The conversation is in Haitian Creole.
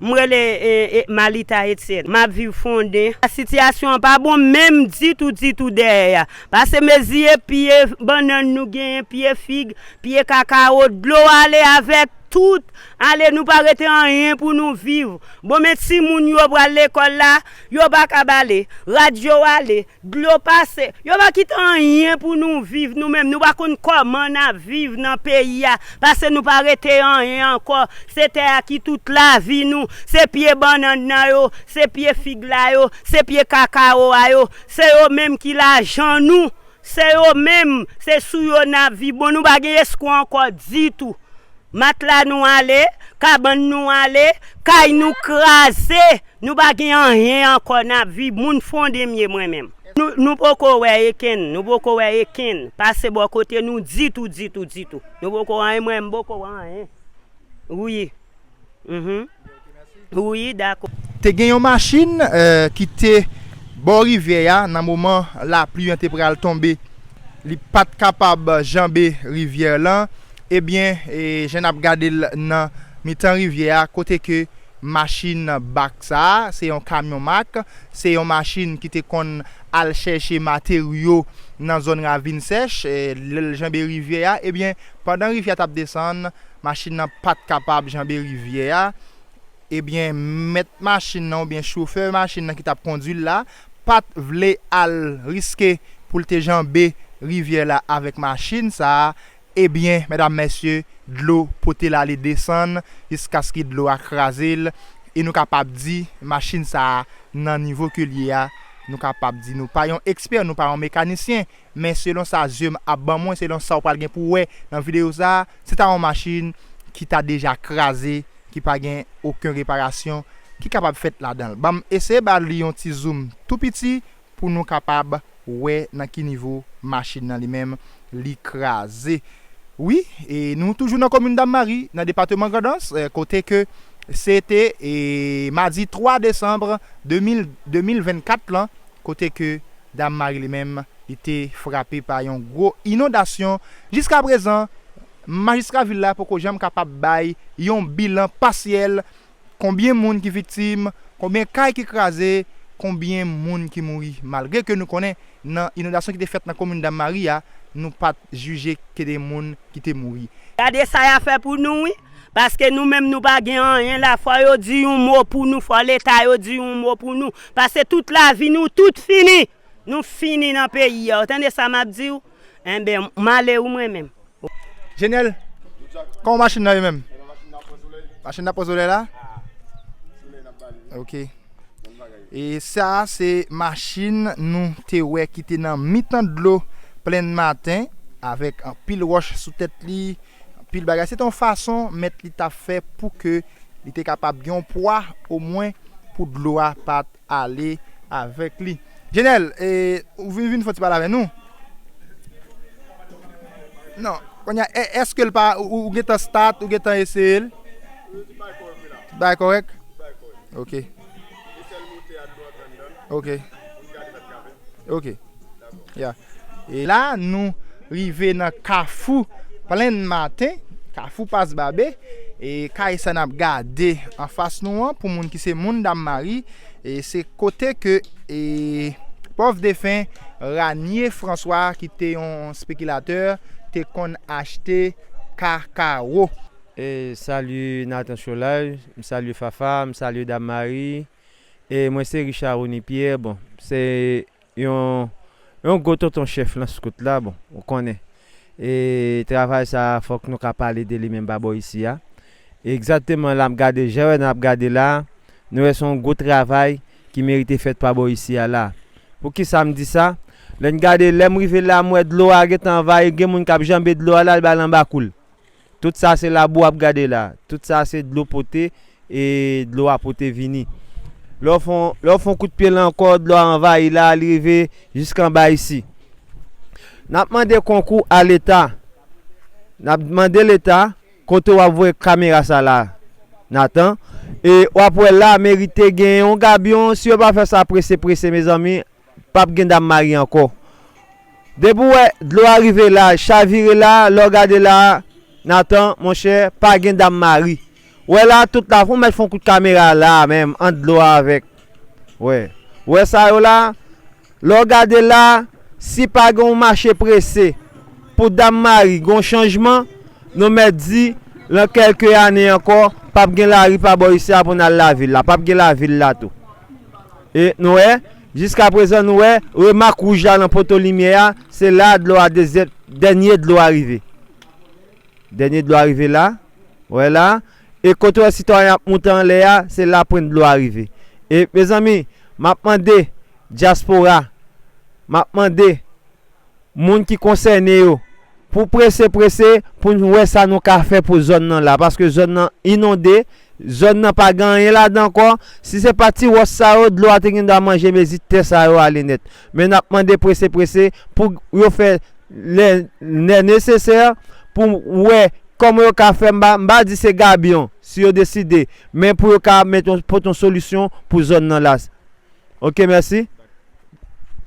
M rele Malita Etienne. M ap viv Fonden. Sitiyasyon an pa bon menm ditou ditou dèyè a. Pase meziye pye bannann nou genyen, pye fig, pye kakawo, dlo ale avèk tout. Ale nou pa rete anyen pou nou viv. Bon men timoun yo pral lekòl la, yo pa kab ale. Rad yo ale. Dlo pase. Yo pa kite anyen pou nou viv nou menm nou pa konn kòman nap viv nan peyi a pase nou pa rete anyen ankò se tè a ki tout lavi nou se pye bannann nan yo se pye fig la yo se pye kakawo a yo se yo menm ki lajan nou se yo menm se sou yo nap viv bon nou pa gen eskwa ankò ditou. Matla nou ale, kabann nou ale, kay nou kraze, nou pa gen anyen ankò n ap viv, moun Fondemye mwen menm. Nou poko wè ekenn, nou poko wè ekenn pase bò kote nou ditou, ditou, ditou. Nou poko wè anyen, mwen menm m poko wè anyen wi. Te gen yon machin ki te bò rivyè a nan moman lapli an te pral tonbe. Li pa t kapab janbe rivyè lan. Ebyen, jan n ap gade l nan mitan rivyè a, kote ke machin bak sa a, se yon kamyon mak, se yon machin ki te konn al chèche materyo nan zòn ravin sèch, lè l janbe rivyè a, ebyen, Pandan rivyè a t ap desann, machin nan pa t kapab janbe rivyè a, ebyen mèt machin nan oubyen chofè machin nan ki t ap kondui l la pa t vle al riske pou l te janbe rivyè la avèk machin sa a, ebyen medam mesye dlo pote l ale desann jiskaske dlo a kraze l e nou kapab di machin sa a nan nivo ke l ye a nou kapab di nou pa yon ekspè nou pa yon mekanisyen Men selon sa zye m ap ban mwen, selon sa w pral gen pou w wè nan videyo sa a, se ta yon machin ki ta deja kraze, ki pa gen oken reparasyon ki kapab fèt ladan l. Ban m eseye ba li yon ti zoum tou piti pou nou kapab wè nan ki nivo machin nan li menm li kraze. Wi, e nou toujou nan komin Dammari, nan depateman Grandans, kote ke se te madi 3 desanm 2024 lan, kote ke Dam Mari li menm li te frape pa yon gwo inondasyon. Jiska prezan, majistra vil la poko janm kapab bay yon bilan pasyèl konbyen moun ki viktim, konbyen kay ki kraze, konbyen moun ki mouri malgre ke nou konnen nan inondasyon ki te fèt nan komin Dam Mari a nou pat jije ke de moun ki te mouri. Gade sa ya fè pou nou wi, paske nou menm nou pa gen anyen la fò yo di yon mo pou nou, fò leta yo di yon mo pou nou. Pase tout lavi nou tout fini nou fini nan peyi a ou tande sa map diw enben male ou mwen menm. Jenel Koman machin nan ye menm. Machin nan pran soley la ok e sa se machin nou te wè ki te nan mitan dlo plenn maten avèk anpil wòch sou tèt li. anpil bagay. Se te yon fason mèt li t ap fè pou ke li te kapab gen yon pwa omwen pou dlo a pa t ale avèk li. Jenèl, e, ou vin vin fè yon ti pale avè nou? Non. Kounye a, èske l pa, ou gen tan stat, ou gen tan eseye l? Li bay kòrèk. Ok. Ok Ok Ya E la nou rive nan kafou plenn maten Kafou pas babe E kay sa nap gade anfas nou an pou moun ki se moun dam mari E se kote ke e pòv defen Ranie François ki te yon spekilatè te konn achte kakawo. Salut Nathan Cholaj, m salye Fafa, m salye Dam Mari, e mwen se Richard Rony Pierre, bon se yon yon gwo tonton chèf lan skout la, bon ou konnen e travay sa fòk nou ka pale de li menm pa bò isi a, egzateman la m gade je wè nan ap gade la, nou wè se yon gwo travay ki merite fèt pa bò isi a la, pou kisa m di sa, lè n gade lè m rive la m wè dlo a gentan anvayi gen moun k ap janbe dlo a la al bay l anba kou l, Tout sa se labou wap gade la. Tout sa se dlo pote e dlo a pote vini. Lè w fon kout pye la ankò, dlo a anvayi la, li rive jisk anba isi. Nap mande konkou a leta. Nap mande leta kote wap voye kamera sa la Nathan. E wap wè la merite gen yon gabyon. Si yo pa fè sa prese prese mezanmi pap gen dam mari ankò depi ou wè dlo a rive la chavire la lè w gade la Nathan monchè pa gen dam mari wè la tout la fon mèt fon kout kamera la menm ant dlo a avèk wè wè sa yo la lè w gade la si pa gen yon mache prese pou dam mari gen yon chanjman nou mèt di lan kèlke ane ankò pap gen lari pa bò isi a pou n al lavil la pap gen lavil la tou. E nou wè, jiska prezan nou wè, remak wouj la nan poto limyè a, se la a dlo a dezyèm, dènye dlo a rive. Dènye dlo a rive la, ou wè la a, e kote ou wè sitwayen ap moute anlè a, se la pwent dlo a rive. E mezanmi, m ap mande dyaspora, m ap mande. moun ki konsène yo pou prese prese pou n wè sa nou ka fè pou zòn nan la paske zòn nan inonde zòn nan pa gen anyen ladan ankò si se pa ti wòs sa yo dlo a te gen dwa manje mezi tè sa yo ale nèt men n ap mande prese prese pou yo fè lè lè nesesè pou wè kòman yo ka fè m pa m pa di se gabyon si yo deside men pou yo ka mèt yon pot yon solisyon pou zòn nan la ok mèsi.